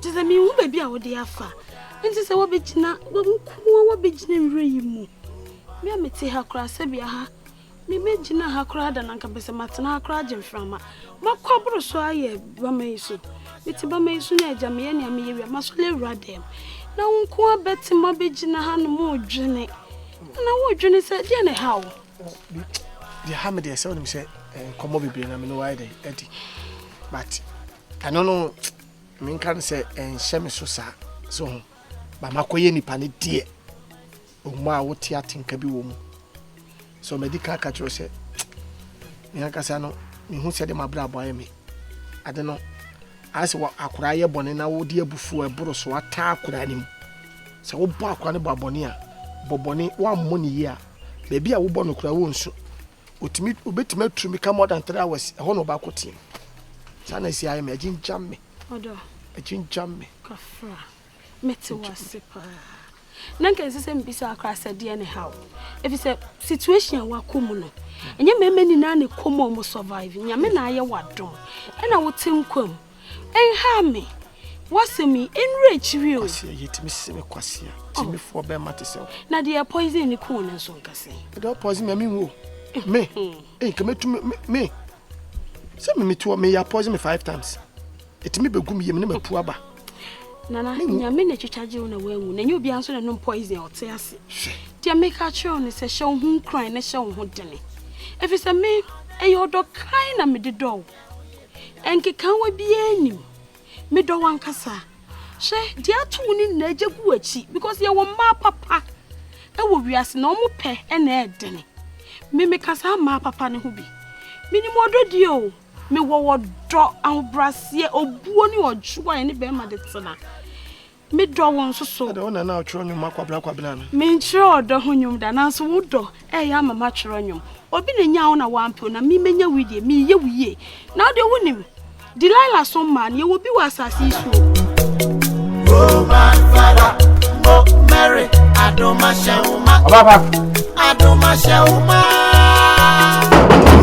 Kyerɛ sɛ menhu baabi a wode afa. Enti sɛ woabɛgyina, wo nko ara woabɛgyina nwura yi mu. Me a mete ha koraa, sɛbea ha, me mɛgyina ha koraa da no anka mepɛ sɛ matena ha koraa agye mframa. Makɔ aboro so ayɛ bama yi so. Mete bama yi so na agya meyɛ nea meyɛ wie a, masɔre awura dɛm. Na wo nko ara bɛte mu abɛgyina ha nom redwene. Na woredwene sɛ deɛ na ɛha wo. Deɛ ha me deɛ sɛ wonim sɛ nkɔmmɔ bebree na me ne wo ayɛ dɛn adi. But Ɛno no, menka no sɛ ɛnhyɛ me so saa, so ho, ba makɔyɛ nipa no deɛ, ɔmu a wote atenka bi wɔ mu. So madi ka aka kyerɛ sɛ, me ankasa no, mehu sɛ de mabrabɔ ayɛ me. Ade no, ayɛ sɛ akora yɛ bɔne na wode abufuo a ɛboro so ataa akora no mu. Sɛ wobɔ akora no bɔ abɔne a, bɔ bɔne, woammɔ no yie a, baabi a wobɔ no koraa wonsu. Otumi obetumi aturu mi ka more than three hours ɛhɔ na ɔbaako teɛ mu saa na esi ayɛ mi agyingyam mi agyingyam mi. kafra mete wase paa na nka ɛsɛ sɛ mbisa akora sɛ deɛ ne haw ɛfiri sɛ situation a wakɔ mu no ɛnyɛ mmarima nyinaa ne kɔm a wɔn survive nyame na ayɛ wadom ɛna wote nkwa mu Ɛnhaw me, w'asɛm yi, ɛnnuru akyiri o. Kwasia, yɛtumi se me kwasia, timifoɔ bɛrima te sɛ wo. Na deɛ poison ni kuu no nso nka sɛn? Ɛdɛ wo poison mi a menwu o. Me, ɛyi nka mɛtumi, me, sɛ me metuɔ, meyɛ poison me five times. Ɛtumi bɛgu me yam ne mapu aba. Nana, nyame na ɛtwitwa gye wo na woanwu, na ɛnyɛ obiara nso na nom poison a ɔte ase. Deɛ meka kyerɛ wo ne sɛ hyɛ wo ho nkuran na hyɛ wo ho dene. Ɛfiri sɛ me, ɛyɛ ɔdɔ kran na mede dɔ wo. Nkekaawa biara nnim. Medɔ wo ankasa. Hwɛ, deɛ ato wo no nyinaa gye gu w'akyi because yɛwɔ mmaa papa wɔ wiase na wɔn pɛ na ɛdene. Me meka saa mmaa papa no ho bi. Menim ɔdɔ die o. Mewɔ ɔdɔ, ahobrɛaseɛ, obuo ne ɔdwoɔ a ɛne bɛrima de tena. Me dɔ wo nso so. Ɛdɛ wo na na ɔtwerɛ nnwom ma kwabena kwabena no. Me nkyerɛ ɔdɔ ho nnwom da nanso wo dɔ ɛyɛ ama ma twerɛ nnwom. Obi na nyaa wo na wampɛ wo na me mɛnya wo die me yɛ wo yie. Na wo deɛ wo nim Delilah so mmaa no yɛ wɔ bi wɔ asase yi so. Roman father mo Mary adoma hyɛ wo ma. Ɔbaba. Adoma hyɛ wo ma.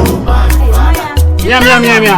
Roman father. Mia mia mia mia.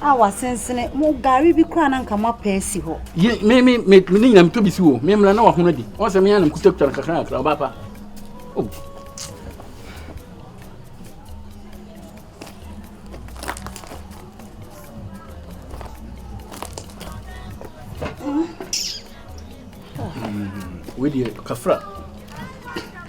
a wasensene mo gari bi koraa na nka mo apɛ asi hɔ. Ye me me me ne nyinam to bi si wo me mmra na wahono adi wɔn sɛ me anam kutakura no kakra kakra ɔba pa. Oh. Mm. Wei deɛ kafra.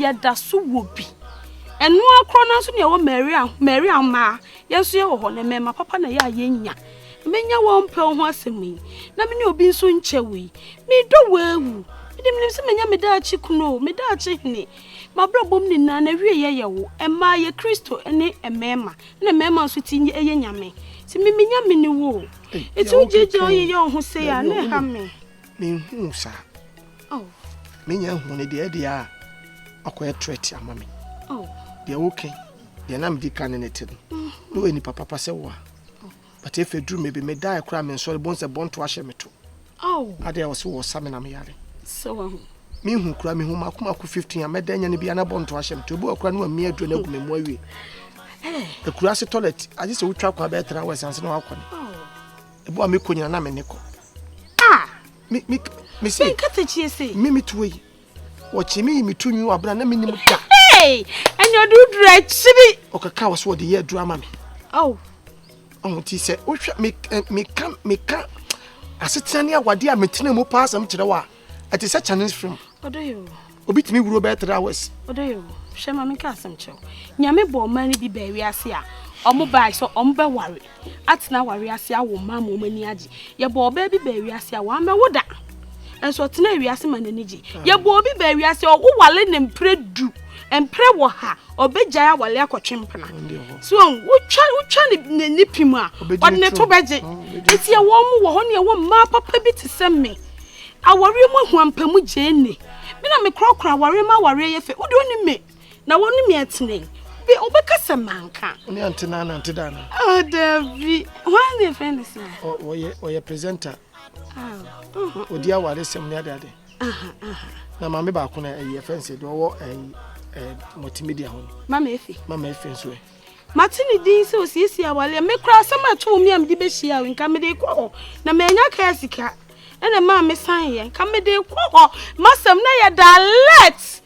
yɛda so wɔ bi ɛno akorɔ no nso ne ɛwɔ maria maria mmaa yɛn nso yɛwɔ hɔ na mmarima papa na yɛ a yɛnya menya wɔn mpɛ ho asɛm yi na me ne obi nso nkyɛ wo yi medɔ wɔawu mede menim sɛ manya meda akyi kunu o meda akyi hene mabrabɔm nyinaa na wie yɛyɛ wo ɛmaa yɛ kristo ne mmarima na mmarima nso ti ɛyɛ nyame nti memenya me ne wo o Eti wo gyegye oyi yɛ ɔho sei a na ɛha me. Menhuu saa. Oh. Menya hu ne deɛ ɛdeɛ a ɔkɔyɛ threat ama me. Oh. Deɛ woke deɛ na medi ka ne ne te no. Mm-hmm. Na ɔyɛ nipa papa sɛ wo a. Oh. But efe duru me bi me da ɛkora me nsɔre bɔn sɛ bɔnto ahyɛ me to. Ao. Adɛn a ɔse wɔsa me na me yare. Sɛ wahu. Me hu kura me hu mako mako 15 a mɛda anya ne bia na bɔ nto ahyɛ me to ebi ɔkura no amia aduro na agu me mu awie. Akura ase toilet agye sɛ wotwa kwan bɛyɛ tra wɛs ansa na wakɔ ne. Ebi a mekɔ nyina na me ne kɔ. Ah! Me me me se. Nka tekyie se. Me me tuo yi. Wɔkyemee me to nwi wɔ abena na menim da. Hey! Ɛne ɔde woduru akyiri. Ɔkeka wɔ so ɔde yɛ aduru ama me. Oh. Ɔho ti sɛ wohwɛ me eh, meka meka asetena ne awade a metena mu paa asɛm kyerɛ wɔ a ɛte sɛ Chinese film. Ɔdɔ yɛ o. Obi tumi wuro bɛyɛ three hours. Ɔdɔ yɛ o. Hwɛ ma meka asɛm kyerɛ wo. Nyame bɔ ɔman no bi baa wiase a ɔmo baa sɛ ɔmo bɛware. atena aware ase awo mma ma wɔn ani agye yɛbɔ ɔbaa bi baa wiase a wɔamɛwo da nso ɔtena wiase ma n'ani gye yɛbɔ obi baa wiase ɔwo wale ne mpere du mpere wɔ ha ɔbɛgyae awale akɔtwe mpena so wotwa wotwa ne ne pi mu a ɔde ne to bɛgye eti ɛwɔ mu wɔ hɔ ne ɛwɔ mmaa papa bi te sɛ me awɔre mu ahuampamu gyee ne me na mekorɔkorɔ awɔre ma awɔre yɛ fɛ wode ɔne me na wɔn ne me atena yi bi ɔbɛka sɛ manka. ɔne ante na anante da na. ɔ oh, dabi wɔn de fɛn de sɛ. ɔyɛ ɔyɛ presenter. Ah, uh-huh. odi awari sɛm ne adeade. na maame baako na ɛyɛ fɛn sɛ deɛ ɔwɔ ɛyi ɛɛ multimedia ho. mama efe. mama efe nso yɛ. Mate ne din sɛ osiesie aware a. Me koraa asɛm a ɛto wɔ me a mede behyia wo, nka mede rekɔ hɔ, na mannya kaa a sika. Ɛna ɛmaa mesaneeɛ. Nka mede rekɔ hɔ, m'asɛm na ɛyɛ direct.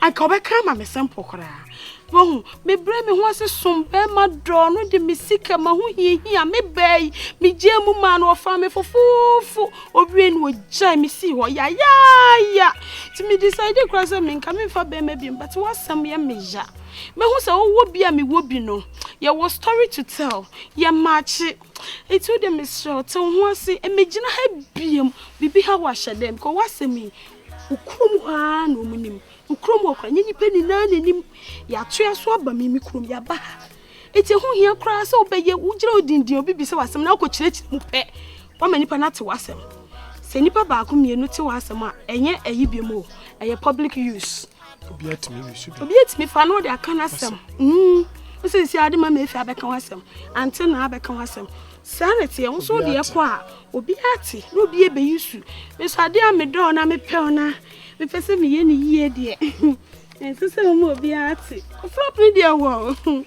Anka ɔbɛka ama me simple koraa. Wahu, mebrɛ me ho ase som barima dɔ no de me sika, m'ahohiahia, me baa yi, megyaa mu maa no, ɔfaa me fofoofo, owiei no ɔgyae me sii hɔ yayaaya. Nti me decide koraa sɛ menka memfa barima biom, but w'asɛm yɛ me ya. Mɛhu sɛ wowɔ bi a mewɔ bi no, yɛwɔ story to tell, yɛ maakye. Nti wo deɛ mesrɛ wo, te wo ho ase, megyina ha biom, biribi ha wo a hyɛ dɛn, because w'asɛm yi, wo kurom hɔ ara na wɔn nim, wo kurom hɔ koraa, nyɛ nnipa nyinaa na nim, yɛatoa so aba me me kurom, yɛaba ha. Nti ɛho hia koraa sɛ wobɛyɛ, wogyina wo dindin, obi bisa w'asɛm na wokɔkyerɛkyerɛ mu pɛ, woama nnipa no ate w'asɛm. Sɛ nnipa baako mmienu te w'asɛm a, ɛnyɛ ayi biom o, ɛyɛ public use. obi atumi ne so bi obi atumi fa no de aka no asɛm mm. wosi si ade ma mefi abɛka ho asɛm ante na abɛka ho asɛm saa na teɛ nso deɛ kɔ a obi ate na obi ɛbɛyi su nso ade a medɔɔ na mepɛw na mepɛ sɛ meyɛ ne yie deɛ ɛnsɛ sɛ ɔma obi ate ɔfrap no deɛ wɔ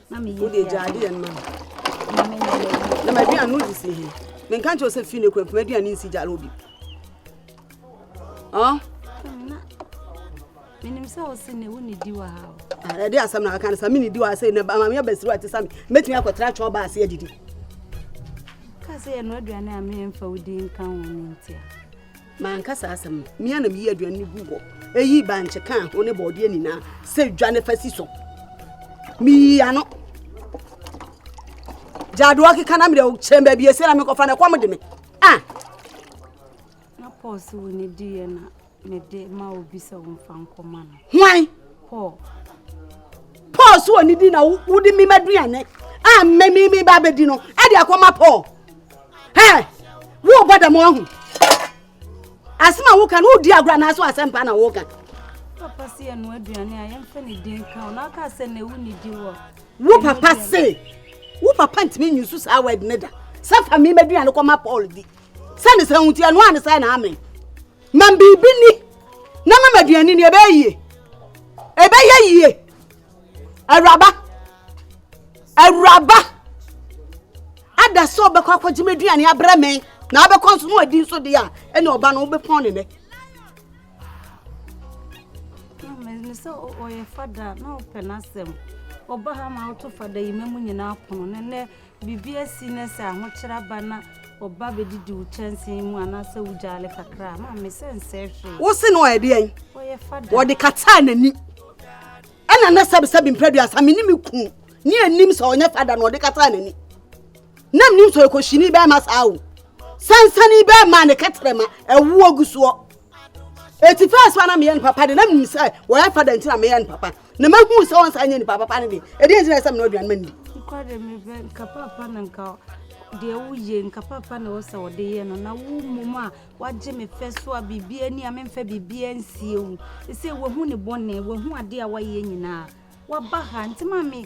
na meyɛ wode gya adeɛ no ma me na maduane no de si he menka nkyɛ wo sɛ fii no kura mpoma aduane nsi gya obi menim sɛ wo se ne wo ne di wɔ ha o ɛde asɛm na aka no sa me ne di wɔ ha sɛ na maame abasiri wa te sa me mɛtumi akɔtena twɛn ɔba ase adidi ka sɛ yɛno aduane a memfa wo di nka ho no ntia Manka saa asɛm no, mea na meyii aduane no guu hɔ. Eyi bankye kaa ho ne bɔɔdeɛ nyinaa sɛ dwa ne fa si so. Meyii ano. Gyadoɔ keka na mede kyɛn baabi ese na mekɔfa na ɛkɔm de me. Ah! Na Paul sɛ wo ne diiɛ na mede ma obi sɛ wo mfa nkɔma no. Hwan? Paul. Paul so wɔ ne di na wode me ma duane a mmɛmi me ba bɛdi no ɛde akɔma Paul. hɛ worebɔ dɛm ahu asɛm a woka no wodi agorɔ anaasɛ asɛm paa na woka papa se yɛ no aduane a yɛmfa ne din ka wo na woka sɛ na ɛwu ne di wɔ wo papa se wo papa ntumi nyi so saa word ne da sɛ fa me maduane kɔma paul di sɛ ne sɛ wotie ɛno a ne sɛ na amen ma biribi ni na ma maduane ni ɛbɛyɛ yie ɛbɛyɛ yie awuraba awuraba ada sɛ ɔbɛkɔ akɔgye m'aduane abrɛ me na abɛkɔ nso na wadi nso deɛ a ɛne ɔba no wobɛpɔn ne nɛ sɛ ɔyɛ fada na ɔpɛ n'asɛm ɔba ha ma woto fada yi ma mu nyinaa pono ne nɛ Biribi asi na sɛ ahokyere aba na ɔba bɛdidi wo kyɛnsee mu anaasɛ wogyaale kakra a, maame sɛ nsɛ hwee. Wo se no ɔyɛ deɛn? Ɔyɛ fada. Wɔde kataa n'ani. Ɛna na sɛbisɛbi mprɛduasa me ne me ku ne anim sɛ ɔnyɛ fada na ɔde kataa n'ani. Na menim sɛ ɔyɛ kɔhyini bɛrima saa o. Sansani bɛrima ne kɛtrɛma ɛwoɔ gu soɔ. Eti fɛs wa na meyɛ no papa de na menim sɛ wɔyɛ fada nti na meyɛ no papa. na mahu sɛ ɔnsa nyɛ nipa papa no de ɛdeɛ nti na ɛsɛ mena aduane ma ndi kɔde mebɛ nka papa na nka deɛ woyɛ nka papa na wɔsɛ wɔde yɛ no na wo mmom a wagye me fɛ so a biribi ani a memfa biribi ansie wo ɛsɛ wahu ne bɔne wahu adeɛ a wayɛ nyinaa waba ha nti ma me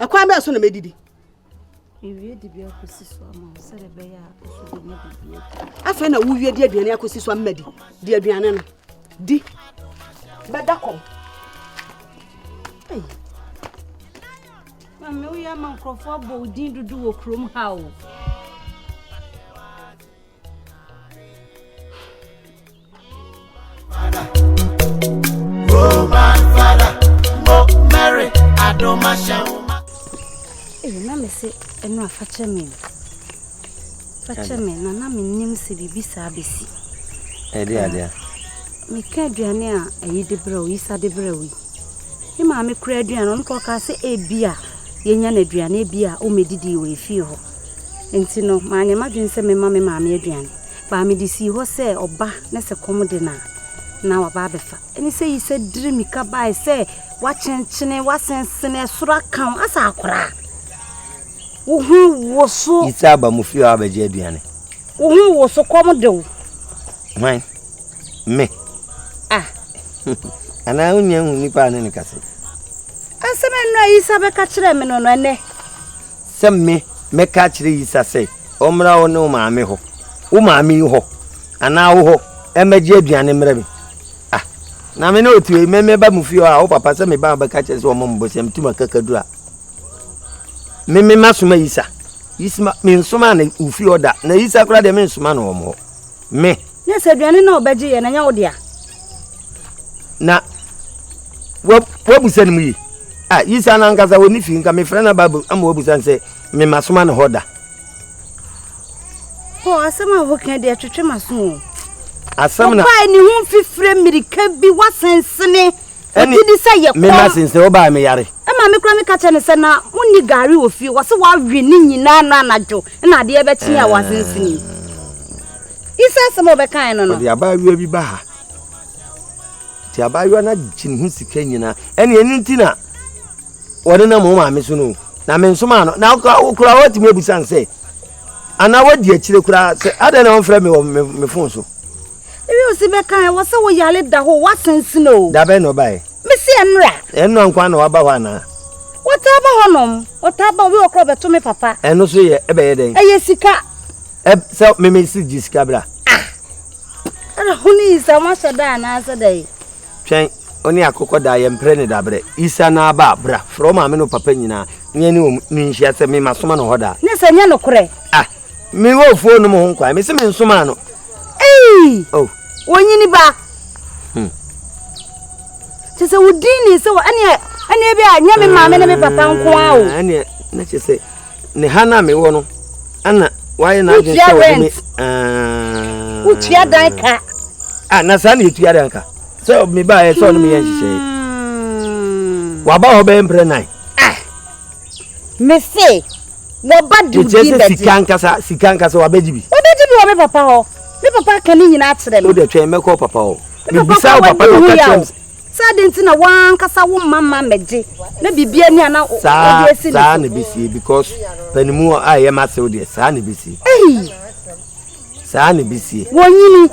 ɛkwan bɛɛ so na mɛdidi afei na wowie de aduane akɔsi so ama di di aduane no di bɛda kɔm mame woyɛ ama nkurɔfoɔ abɔ wo din dodo wɔ kurom ha o na mese ɛno a fakyɛ me fakyɛ me na na mennim sɛ biribi saa bɛsi ɛde adeɛ meka aduane a ayi de berɛ o yisa de berɛ o yi ne maame kora aduane ɔno kɔ kaa sɛ ebi a yɛnya no aduane bi a ɔmɛdidi wɔ ɛfie hɔ nti no maanyɛ m'adwene sɛ mema me maame aduane Baa mede sii hɔ sɛ ɔba na sɛ kɔm de no a, na waba abɛfa. Ɛne sɛ yi sɛ diri mika bae sɛ wakyenkyene, wasensene, ɛsoro aka wo, asa akora a. Wo ho wo so. Yi sɛ aba mu fie a abɛgye aduane. Wo ho wo so kɔm de wo. Hwan? Me? Ah. Anaa wonya hu nipa a ne ne kasa? Asɛm ɛno a Yisa bɛka kyerɛɛ me no no ɛnɛ. Sɛ me, mɛka akyerɛ Yisa sɛ ɔmmra wo ne wo maame hɔ, wo maame hɔ, anaa wo hɔ, mmɛgye aduane mmrɛ me. Ah, na me ne otu ei, me meba mo fie hɔ a, wo papa sɛ meba a bɛka kyerɛ sɛ ɔmmɔ me bosea, metu m'akakaduru a. Me, me masoma Yisa. Yisma, mensoma no wo fie hɔ da, na Yisa koraa deɛ mensoma no wɔn hɔ. Me. Ne sɛ aduane no a ɔbɛgye yɛ na nyɛ wo dea. Na wabusa ne mu yi. Ah, Yisa no ankasa wɔ ne fie nka mefrɛ no aba ama wabusa no sɛ mema soma ne hɔ da. Paul, asɛm a woka deɛ twetwe m'aso o. Asɛm na. Ɔbaa ne ho mfifire mmirika bi wasennsene. Wogye di sɛ yɛ kɔm. Me mma since wo baa me yare. Maame kura me ka kyerɛ no sɛ na wonni gari wɔ fie wɔsi wawe ne nyinaa no anadwo na adeɛ bɛkye a wasensenim. Isa asɛm a ɔbɛkae no no. Ɔde abaayewa bi ba ha. Nti abaayewa no agye ne ho sika nyinaa. Ɛne ɛno nti na wɔde nam wo maame so no na me nso maa no na wokura wɔatumi abusa no sɛ anaa wadi akyire koraa sɛ adɛn na wɔmfrɛ me wɔ me fon so. Ewi osi bɛ kan ɛwɔ sɛ wo yale da hɔ w'asensene o. Da bɛn na ɔbaɛ? Me se ɛnra. Ɛnra nkoa na waba hɔ anaa? Ɔtaa ba hɔ nom. Ɔtaa ba obi wɔ kora ɔbɛto me papa. Ɛno so yɛ ɛbɛyɛ dɛn? Ɛyɛ sika. Ɛ sɛ me me se gye sika bra. Ah! Ɛra ho ne Isa mo ahyɛ da anaa sɛ dɛn? Twɛn wo ne akokɔ da yɛ mpere ne da brɛ Isa na aba a bra frɛ wo maame ne wo papa nyinaa ne yɛne wɔn nhyia sɛ me masoma no hɔ da. Ne sɛ nyɛ nokorɛ? Ah! Me wɔ ofuo nom ho nkwan, me se me nsoma no. Ei! Oh. Wɔnyini ba. Hmm. Kyɛ sɛ wodi ni sɛ wɔ ɛneɛ ɛneɛ bi a nyɛ me maame ne me papa nko a o. Ah, ɛneɛ na kyɛ sɛ ne ha na me wɔ no ɛna wayɛ na adwene sɛ wɔde me. Ah. Wotua dan ka. Ah, na saa na yɛtua dan ka. Sɛ me ba yɛ sɛ ɔne me yɛ nhyehyɛe. Hmm. Waba hɔ bɛyɛ mprɛ nan. Ah. Me se. Wɔba de wo din bɛgye. Mekyerɛ sɛ sika ankasa, sika ankasa, wɔabɛgye bi. Wɔbɛgye bi wɔ me papa hɔ. Me papa aka ne nyinaa akyerɛ me. Wo deɛ twɛn, mɛkɔ wo papa hɔ. Me bisaa wo papa na ɔka kyerɛ me sɛ. Sɛ adɛn nti na wo ara ankasa wo mma mma mmɛgye na biribiara ni a na wode asi ne so. Saa na ɛbɛsie because panimu a ɛyɛ m'asew deɛ, saa na ɛbɛsie. Ei! saa na ebi sie. wɔnyini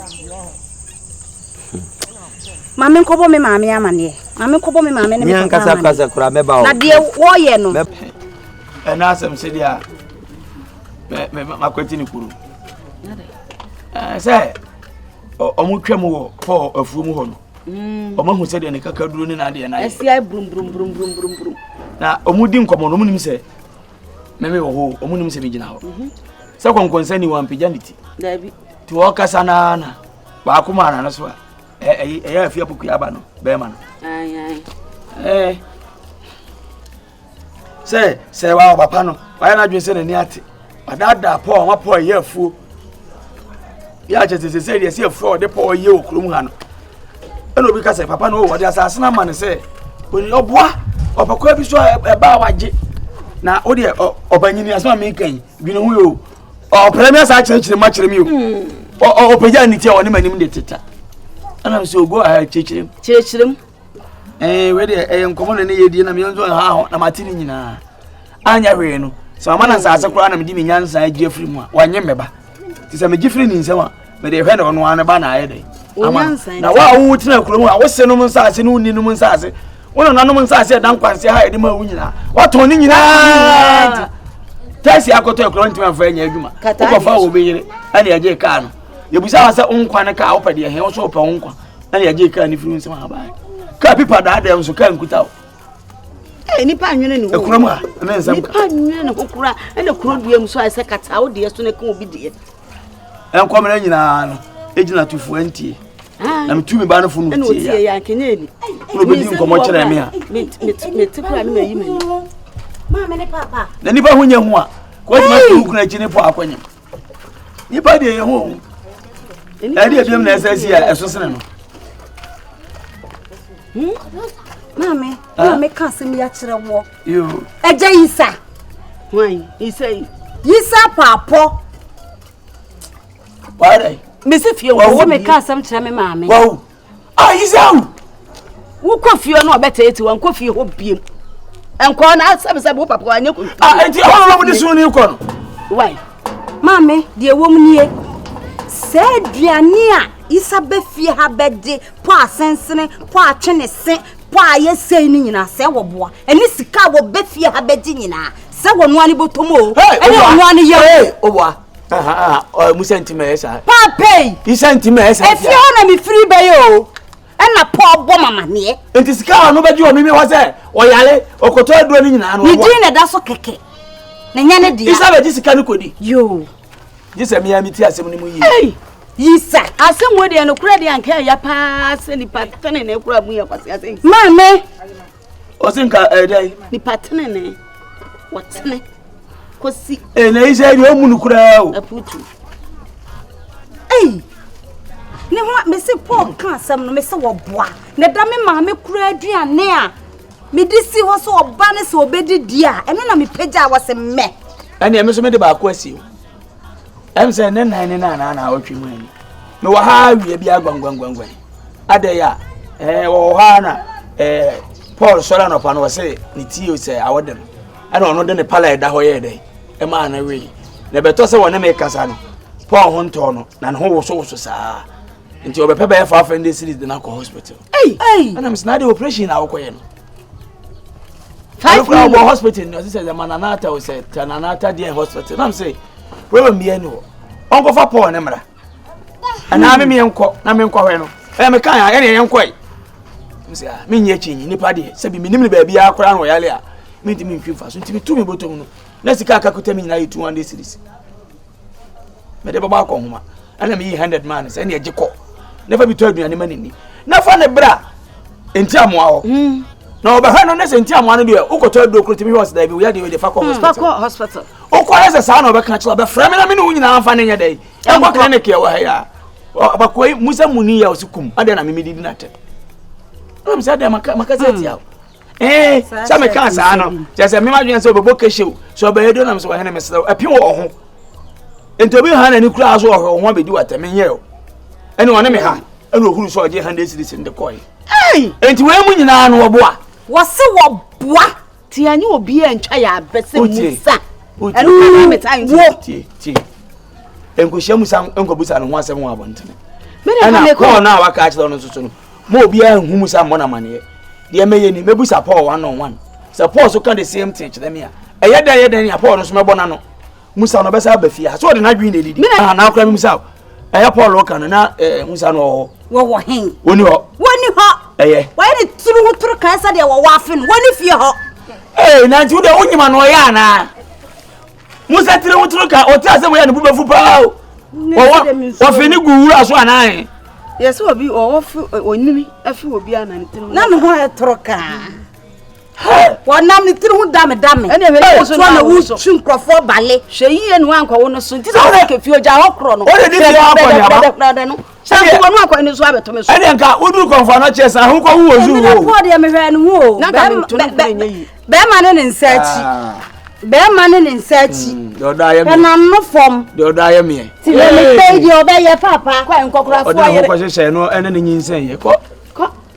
ma me nkɔbɔ me maame amaneɛ ma me nkɔbɔ me maame ne me papa amaneɛ kasa kura mɛba hɔ na deɛ wɔyɛ no. ɛna asɛm sɛ deɛ a mɛ mɛ makwati ne kuro sɛ wɔn twɛ mu wɔ paul afuo mu hɔ no wɔn mm. ahu sɛ deɛ ne kakaduro ne n'adeɛ n'ayɛ. ɛsi ayɛ burumburumburumburumburum. na wɔn di nkɔmɔ na wɔn nim sɛ. mɛmɛ wɔ hɔ ɔmo nim sɛ mi gyina hɔ mhm. sɛ kɔnkɔnsa ni wɔn pagya ne ti ti ɔkasa naa na baako maa n'ano so a ɛyɛ ɛyɛ afi apokua aba no bɛrima no ɛɛ sɛ sɛ wa ɔba pa no wayɛ n'adwene sɛ n'ani ate wadaadaa pɔɔ wɔn apɔɔ ɛyɛ afuo. yɛ akyɛ sɛ sɛ deɛ sɛ ɛfrɛ ɔde pɔ ɔyɛ wɔ kurom ha no ɛna obi ka sɛ papa no wɔde asase no ama no sɛ ɔboa ɔpɛkɔa bi so a ɛbaa wagye na wo deɛ ɔbanyini asɛm a meka yi dwene ho yɛ o ɔpɛrɛ me asa akyerɛkyerɛ ma kyerɛ me o ɔpɛgya ne ti a ɔne m'anim de teta ɛna sɛ ɔgo a kyerɛkyerɛm kyerɛkyerɛm ɛɛ wei deɛ ɛyɛ nkɔmɔ na ne yɛ die na meyɛ nso ha ho na mate ne nyinaa anyɛ hwee no sɛ mama no nsaase koraa na mede me nyansa agye afiri mu a wanyɛ mmɛba nti sɛ megye firi ne nsɛm a mede hwɛ ne ɔno ano ba na ayɛ dɛn ama na wo a wowo tena kurom a wose nom nsaase ne wonni nom nsaase wo nana nom nsaase ɛda nkwanseɛ ha yɛde ma wo nyinaa watɔn ne nyinaa tɛsi akɔtɔ akura ntumi afa anya adwuma wokɔfa wɔ bɛyere ɛne ɛgye kaa no yɛbusa wa sɛ wo nkwa no kaa wopɛ deɛ hɛ wo so wopɛ wo nkwa ɛna yɛgye kaa no firi nsɛm ha bae kaa pipa daa dɛm so kaa nkuta o eh, nipa nwene ne ho ekura mu a ɛna nsɛm nipa nwene ne ho kura ɛna kuro dua mu so a ɛsɛ kata wo deɛ so na ɛka obi deɛ ɛnkɔmena nyinaa no ɛgyina tufo ɛntie na metu me ba no fo no tie ya na obɛdi nkɔmmɔ kyerɛ me a na nipa ho nyɛ ho a kɔgyina tu wo kura akyi ne po akɔnyem nipa deɛ yɛ ho ɛde ebiom na ɛsɛ si a ɛso sene no. Hmm? maame ah. maame ka asɛm yi akyerɛ wɔ ɛgya yisa yisa paapɔ mesi fie wɔ sɛ meka asɛm kyerɛ me maame Ah, Isao! Wokɔ fie no ɔbɛteetee wɔn kɔ fie hɔ biem. Nkɔɔ na asɛbisɛbi wo papa wanyɛ kɔ. Ah, enti ɛhɔ na wɔn de sun ne kɔ no. Wai. Maame, deɛ wɔm nie. Sɛ aduane a Isa bɛ fie ha bɛde pɔ asensene, pɔ atwe ne se, pɔ a yɛsɛe no nyinaa sɛ wɔboa. Ɛne sika a wɔbɛ fie ha bɛgye nyinaa sɛ wɔnoa ne bɔtɔm o. Ɛne wɔnoa ne yɛ o. musa nti ma ɛyɛ saa. paapɛyi. isa nti ma ɛyɛ saa. efie hɔ na mi firi bɛyɛ o ɛna paul bɔ mama neɛ. nti sika a ɔno bɛgye wɔ mimi hɔ sɛ ɔyare ɔkɔtɔ aduro no nyinaa no ɔwɔ. ne din na ɛda so kɛkɛ na nya ne deɛ. isa bɛgye sika no kɔdi. yoo. gye sɛ mmea mi ti asɛm no mu yie. ɛyi yisa. asɛm wo deɛ no kura deɛ anka ɛya paa sɛ nipa tɛne na ekura mu yɛ kwasi asɛm. maame ɔsi nka ɛyɛ dɛ. nipa tene ne wɔtene kɔsi. ee na yi sɛ ɛdi ɔmu no koraa o. aputu eyi ne ho mesi paul ka asɛm no mesi wɔboa na ɛda me maame kura aduane a mede si hɔ sɛ ɔba ne sɛ ɔbɛdi di a ɛno na mepagya a wɔsɛ mmɛ. ɛnna ɛmi nso mi de baako asi o. ɛm sɛ ne nan ne nan na ɔtwe mu ani mewɔ ha awia bi agwangwangwangwan adɛn a ɛɛ wɔwɔ hɔ ara na ɛɛ paul sɔrɔ anɔpa no ɔsɛ ne tie sɛ awɔ dɛm ɛna ɔno de ne pala ɛda hɔ yɛɛ dɛn ɛmaa no wee na ɛbɛtɔ sɛ wɔne me kasa no paul ho ntɔɔ no na ne ho wosowoso saa nti ɔbɛpɛ bɛyɛ fa afɛn de series de no akɔ hospital ɛna mesɛ na ade operation na wokɔyɛ no five million. ɔwɔ hospital ni ɔsi sɛ ɛma nana ata o sɛ ta nana ata deɛ hospital nam sɛ problem bi ɛni hɔ ɔnkɔfa paul ne mra ɛnaa mi mi yɛn kɔ na mi nkɔ hɔ no ɛyɛ mi kan yɛn yɛn kɔ yi nse a mi nyɛ kyi nyi nipa deɛ sɛbi mi nim ne baabi akora no ɔyale a mi ntumi nfi nfa so ntumi tu mi bɔtɔ mu no na sika akakuta mi nyinaa yɛ two hundred series mede bɛbɔ akɔ nhoma ɛna meyi hundred maa no sɛ ɛne ɛgye kɔ na fa bi tɔ aduane ma ne ni na fa ne bra nti amoa hɔ hmm. na ɔbɛhwɛ no ne sɛ nti amoa no deɛ wokɔtɔ aduro koro tumi hwɛ ɔsɛ daabi woyɛ deɛ wode fa kɔ hmm. hospital wokɔ ne sɛ saa na ɔbɛka kyerɛ ɔbɛfrɛ me na me ne wo nyinaa mfa ne nyɛ dɛ ɛnkɔ clinic yɛ wɔ ha yɛ a bakoa yi musa mu ni yɛ ɔse kum adeɛ na memedidi no atɛ na mesɛ deɛ maka sɛ atia hmm. ee sɛ mekaa saa no kyɛ sɛ mema dwene sɛ ɔbɛbɔ kɛhyɛ o sɛ ɔbɛyɛ do nam sɛ wɔhene mesrɛ wo ɛpe wɔ ho nti obi ha n'ani koraa so ɔhwɛ wo ho abɛdi wɔ atɛm nyɛ o ɛne ɔne me ha ɛne ɔhuru sɛ ɔgye hande siris no de kɔe nti wei mu nyinaa no wɔboa wɔse wɔboa nti ɛnyɛ obi a ntwa yɛ abɛ sɛ musa ɛno kɔnaa meta nti nkɔhyia musa nkɔbusa no ho asɛm wɔ abɔntene ɛna kɔɔ no a waka akyerɛ no nso so no Ma obiara nhu mu sɛ ammɔ no amanneɛ. Deɛ mɛyɛ ni, mɛbusa Paul one on one. Sɛ Paul so ka the same thing kyerɛ me a, ɛyɛ dɛn ɛyɛ dɛn nea Paul no so mɛbɔ n'ano. Musa no ɔbɛsa aba fie ha. So ɔde n'adwene na ɛdidi. Mina na akora memusa o. Ɛyɛ Paul ɔka no na eh, Musa no ɔwɔ hɔ. Wɔwɔ he? Wɔni hɔ. Wɔni hɔ. Ɛyɛ. Wɔyɛ ne tiri ho toro kan sɛdeɛ wɔwɔ afe no. Wɔni fie hɔ. Ee, nanti wo deɛ wonyima no ɔyɛ anaa? musa tiri ho tiri ka ɔte asɛm yɛ ne bo bɛfu paa o wɔwɔ wɔfi ne gu wura so anaaye. yɛsɛ obi ɔwɔ fi onimi afi obi a na ne tiri ho. na ne ho yɛ toro kaa wɔnam ne tiri ho dame dame wotoɔ na wotwi nkurɔfoɔ bale hwɛ yie ne woankɔwo no so nti sɛ wosɛ kɛfie ogya hɔ korɔ no dɛdɛdɛdɛdɛ no sɛ nkokɔ no akɔ ne so abɛto me so ɛdeɛ nka woduru kɔmfoa no kyerɛ sɛ ahokɔ ho wɔ zuu o poɔ deɛ mehwɛ no ho o bɛrima ne ne nsa akyi ah. bɛrima ne ne nsa akyi hmm, ɛnam no fam deɛ ɔdɔ ayɛ meɛ ti na mepɛ deɛ ɔbɛyɛ papa kɔ nkɔkorafoɔ yere ɔde ahokɔ hyehyɛ no ɛne ne nyinsɛn yɛ kɔ